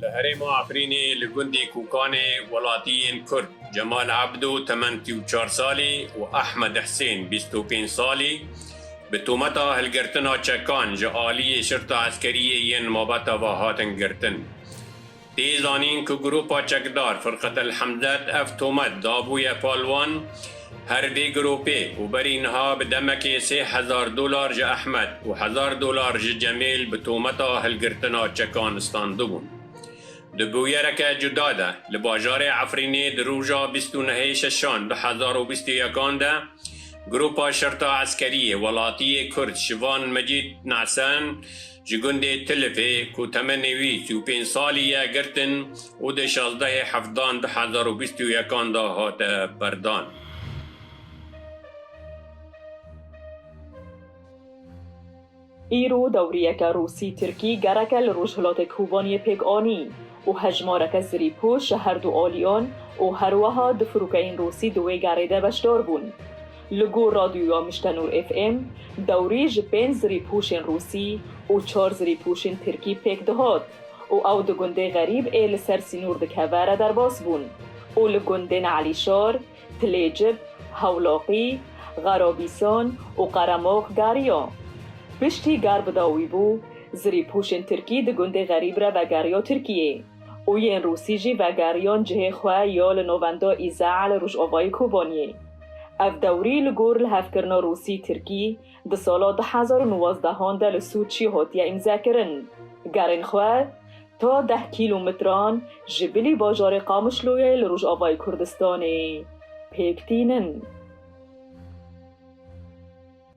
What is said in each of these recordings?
Li herêma Efrînê li gundê Kûkanê welatî yên Kurd Cemal Ebdo temen sî û çar salî û Ehmed Hisên bîst û pênc salî bi tometa hilgirtina çekan ji aliyê şirta eskeriyê yên mabeta ve hatin girtin. Tê zanîn ku grûpa çekdar Firqetel Hemdet ev tomet dabûye pal wan her vê grûpê û berî niha bi demekê sê hezar dolar ji Ehmed û hezar dolar ji Cemêl bi tometa hilgirtina çekan standibûn. Di bûyereke cuda de li bajarê Efrînê di roja bîst û nehê şeşan du hezar û bîst û yekan de grûpa Şerta Eskeriyê Welatiyê Kurd Şivan Mecîd Nahsen Ji gundê Tilifê ku temenê wî sî û pênc salî ye girtin û di şazdehê hefdan du hezar û bîst û yekan de hate berdan. Îro dewriyeke Rûsî-Tirkî gereke li Rojhilatê Kobaniyê pêk anî û hejmareke zirîpûş ji herdu aliyan û herweha du firokeyên Rûsî di wê gerê de beşdar bûn. Li gor Radyoya Miştenûr FM, dewrê ji pênc zirîpûşên rûsî û çar zirîpûşên tirkî pêk dihat û ew di gundê Xerîb ê li ser sînor dikeve re derbas bûn û li gundên Elîşar, Tilêcib, Hewlaqî, Xerabîsan û Qeremox geriya. Piştî gerbida wî bû, zirîpûşên tirkî di gundê Xerîb re vegeriya Tirkiyê û yên rûsî jî vegeriyan cihê xwe ya li navenda Îzeh li rojavayê Kobaniyê. Ev dewrî li gor lihevkirina Rûsî-Tirkî di sala du hezar û nwazdeh an de li Sûçî hatiye îmzekirin. Gerên xwe ta deh kîlometran ji bilî bajarê Qamişloyê li rojavayê Kurdistanê pêk tînin.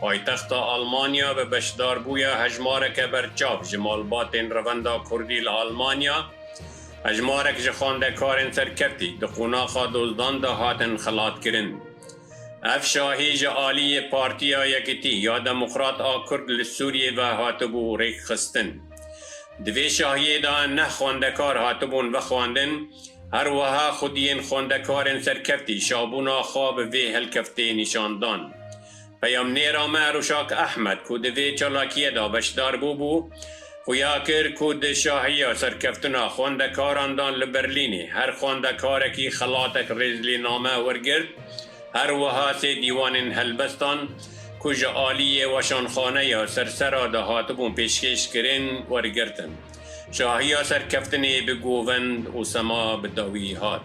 Paytexta Almanya bi beşdarbûya hejmareke berçav ji malbatên Revenda Kurdî li Almanya, hejmarek ji xwendekarên serkeftî di qonaxa dozdan de hatin xelatkirin. Ev şahî ji aliyê Partiya Yekitî ya Demokrat a Kurd li Sûriyê ve hatibû rêkxistin. Di vê şahiyê de neh xwendekar hatibûn vexwendin, her weha xwediyên xwendekarên serkeftî şabûna xwe bi vê helkeftê nîşan dan. Peyamnêra me Ruşak Ehmed ku di vê çalakiyê de beşdar bûbû, xuya kir ku di şahiya serkeftina xwendekaran de li Berlînê her xwendekarekî xelatek rêzlêname wergirt, her wiha sê dîwanên helbestan ku ji aliyê weşanxaneya Sersera de hatibûn pêşkêş kirin wergirtin. Şahiya serkeftinê bi govend û sema bi dawî hat.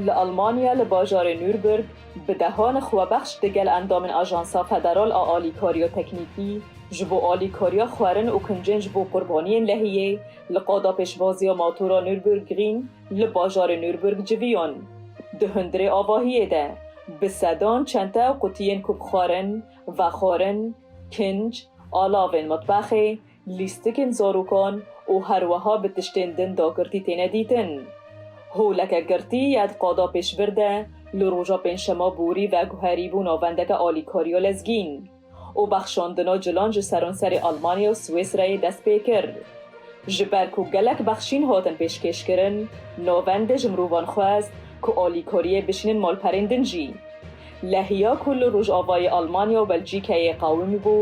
Li Almanya li bajarê Nürburg bi dehan xwebexş di gel endamên Ajansa Federal a Alîkariya Teknîkî ji bo Alîkariya Xwerin û Kincên ji bo Qurbaniyên Lehiyê li qada pêşvaziya matora Nürburgring li bajarê Nürburg civiyan. Di hundirê avahiyê de bi sedan çente û qutiyên ku bi xwerin, vexwarin, kinc, alavên mitbexê, Lîstikên zarokan û herweha bi tiştên din dagirtî têne dîtin. Holeke girtî ya di qada pêşbir de li roja pêncşema borî veguherîbû navendeke alîkariya lezgîn û bexşandina cilan ji seranserê Almanya û Swêsreyê dest pê kir. Ji ber ku gelek bexşîn hatin pêşkêşkirin, navendê ji mirovan xwest ku alîkariyê bişînin malperên din jî. Lehiya ku li rojavayê Almanya û Belcîkeyê qawim bû,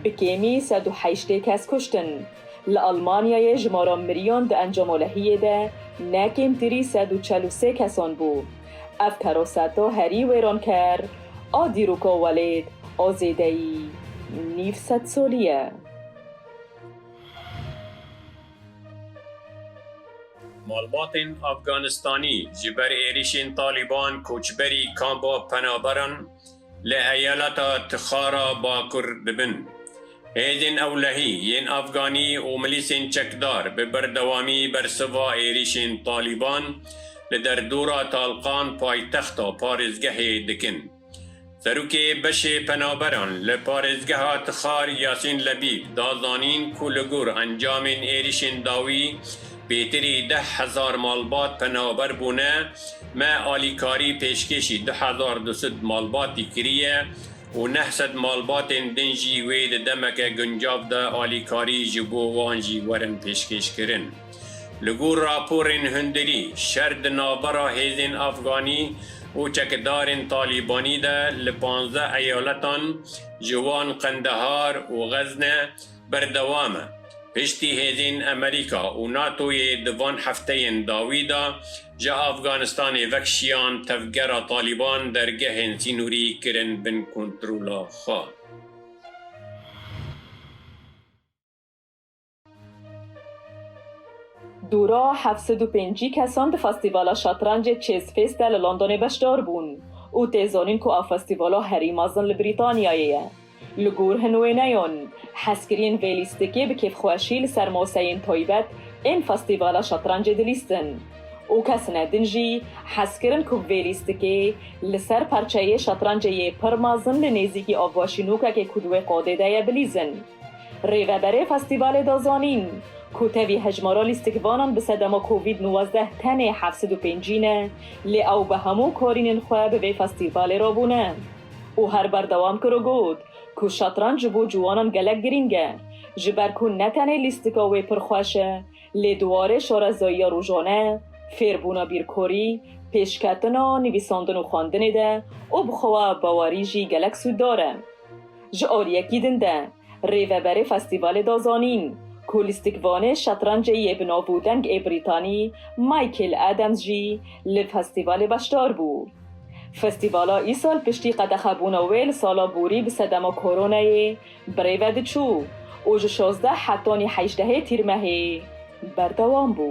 bi kêmî sed û heştê kes kuştin. Li Almanyayê jimara miriyan di encama lehiyê de ne kêmtirî sed û çel û sê kesan bû. Ev teraseta herî wêranker a dîroka welêt a zêdeyî nîv sedsalî ye. Malbatên Afganistanî ji ber êrişên Talîban koçberî kampa penaberan li eyaleta Tixar a Bakur dibin. Hêzên ewlehî yên Afganî û milîsên çekdar bi berdewamî bersiva êrişên Talîban li derdora Talqan paytexta parêzgehê dikin. Serokê Beşê Penaberan li parêzgeha Tixar Yasîn Lebîb da zanîn ku li gor encamên êrîşên dawî pêtirî deh hezar malbat penaber bûne, me alîkarî pêşkêşî du hezar du sed malbatî kiriye û neh sed malbatên din jî wê di demeke guncav de alîkarî ji bo wan jî werin pêşkêşkirin. Li gor raporên hundirî, şer di navbera hêzên Afganî û çekidarên Talîbanî de li panzdeh eyaletan ji wan Qendehar û Xezne berdewam e. Piştî hêzên Amerîka û NATO'yê di van hefteyên dawî de ji Afganistanê vekişiyan tevgera Talîban dergehên sînorî kirin bin kontrola xwe. Dûra heft sed û pêncî kesan di festîvala şatrancê Chase Fest de li Londonê beşdar bûn û tê zanîn ku ev festîvala herî mezin li Brîtanyayê ye. Li gor hin wêneyan, hezkiriyên vê lîstikê bi kêfxweşî li ser maseyên taybet ên festîvala şatrancê dilîstin û kes ne din jî hez kirin ku vê lîstikê li ser parçeyê şatrancê yê pir mezin li nêzîkî avvaşînokekê ku di wê qadê de ye bilîzin. Rêveberê festîvalê da zanîn, ku tevî hejmara lîstikvanan bi sedema covid nwazdeh tenê heft sed û pêncî ne, lê ew bi hemû karînên xwe bi vê festîvalê re bûne û her berdewam kir û got ku şetranc ji bo ciwanan gelek girîng e, ji ber ku ne tenê lîstika wê pir xweş e, lê di warê şarezayiya rojane, fêrbûna bîrkorî, pêşketina, nivîsandin û xwendinê de û bi xwe bawerî jî gelek sûddar e. Ji aliyekî din de rêveberê festîvalê da zanîn ku lîstikvanê şetrancê yê bi nav û deng ê Brîtanî Michael Adams jî li festîvalê beşdar bû. Festîvala îsal piştî qedexebûna wê li sala borî bi sedema koronayê bi rê ve diçû û ji şazdeh hetanî hejdehê tîrmehê berdewam bû.